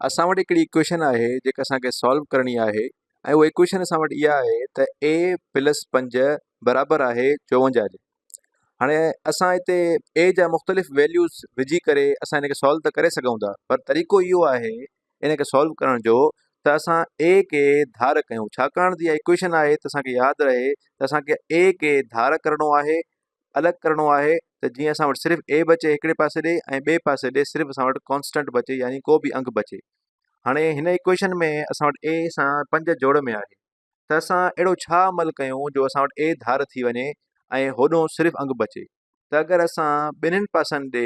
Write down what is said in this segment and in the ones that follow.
اسان وٽ هڪڙي اڪويشن آهي جيڪا اسان کي سالو ڪرڻي آهي ۽ اها اڪويشن اسان وٽ اها آهي ته اي پلس پنج برابر آهي چوونجاهه جي هاڻي اسان هتي اي جا مختلف ويليوز وجهي ڪري اسان هن کي سالو ته ڪري سگهون ٿا پر طريقو اهو آهي ان کي سالو ڪرڻ جو ته اسان اي کي ڌار ڪيون ڇاڪاڻ جي اها اڪويشن آهي ته اسان کي ياد رهي ته اسان کي اي کي ڌار ڪرڻو آهي الڳ ڪرڻو آهي ته جيئن اسان وٽ صرف اي بچي هڪڙي پاسي ڏي ۽ ٻي پاسي ڏي صرف اسان وٽ ڪانسٽنٽ بچي يعني ڪو به انگ بچي هاڻي هن ايڪويشن ۾ اسان وٽ اي سان پنج جوڙ ۾ آهي ته اسان اهڙو ڇا عمل ڪيون جو اسان وٽ اي ڌار ٿي وڃي ۽ هوڏو صرف انگ بچي ته اگر اسان ٻنهن پاسن ڏي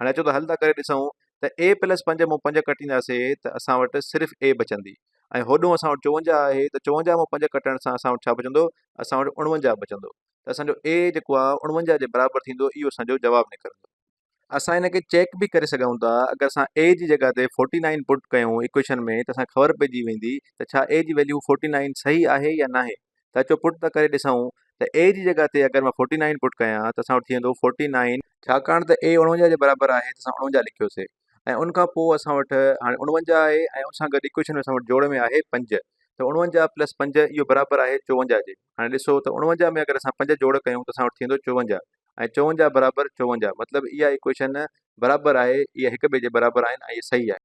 هاڻي اچو ته حل ٿا ڪري ڏسون ته a پلس پنج مون پنج ڪٽينداسي ته اسان وٽ صرف a بچندي ۽ هوڏون اسان وٽ چوونجاهه آهي ته چوونجاهه مون پنج ڪٽڻ سان اسان وٽ ڇا بچندو اسان وٽ اڻونجاهه بچندو ته اسان جو a جيڪو آهي اڻونجاهه جي برابر ٿيندو اهو اسان جو جواب نڪرندو. اسان ان کي چيڪ به ڪري سگهون ٿا اگر اسان a جي جڳهه تي فورٽي نائن پٽ ڪيون ايڪويشن ۾ ته اسان کي خبر پئجي ويندي ته ڇا a جي ويليو فورٽي نائن صحيح آهي يا ناهي. ته اچو پٽ ته ڪري ڏسئون ته اي جي جڳهه تي اگر مان فورٽي نائين پٽ ڪيان ته اسان وٽ ٿي ويندو فورٽي نائين ڇاڪاڻ ته اي اڻونجاهه جي برابر آهي ته اسان اڻونجاهه لکيوسي ۽ ان کان پوء اسان وٽ هاڻي اڻونجاهه آهي ۽ ان سان گڏ ايڪويشن ۾ اسان وٽ جوڙ ۾ آهي پنج ته اڻونجاهه پلس پنج اهو برابر آهي چوونجاهه جي هاڻي ڏسو ته اڻونجاهه ۾ اگر اسان پنج جوڙ ڪيون ته اسان وٽ ٿيندو چوونجاهه ۽ چوونجاهه برابر چوونجاهه مطلب اها ايڪويشن برابر آهي اهي هڪ ٻئي جي برابر آهن ۽ اهي صحيح آهن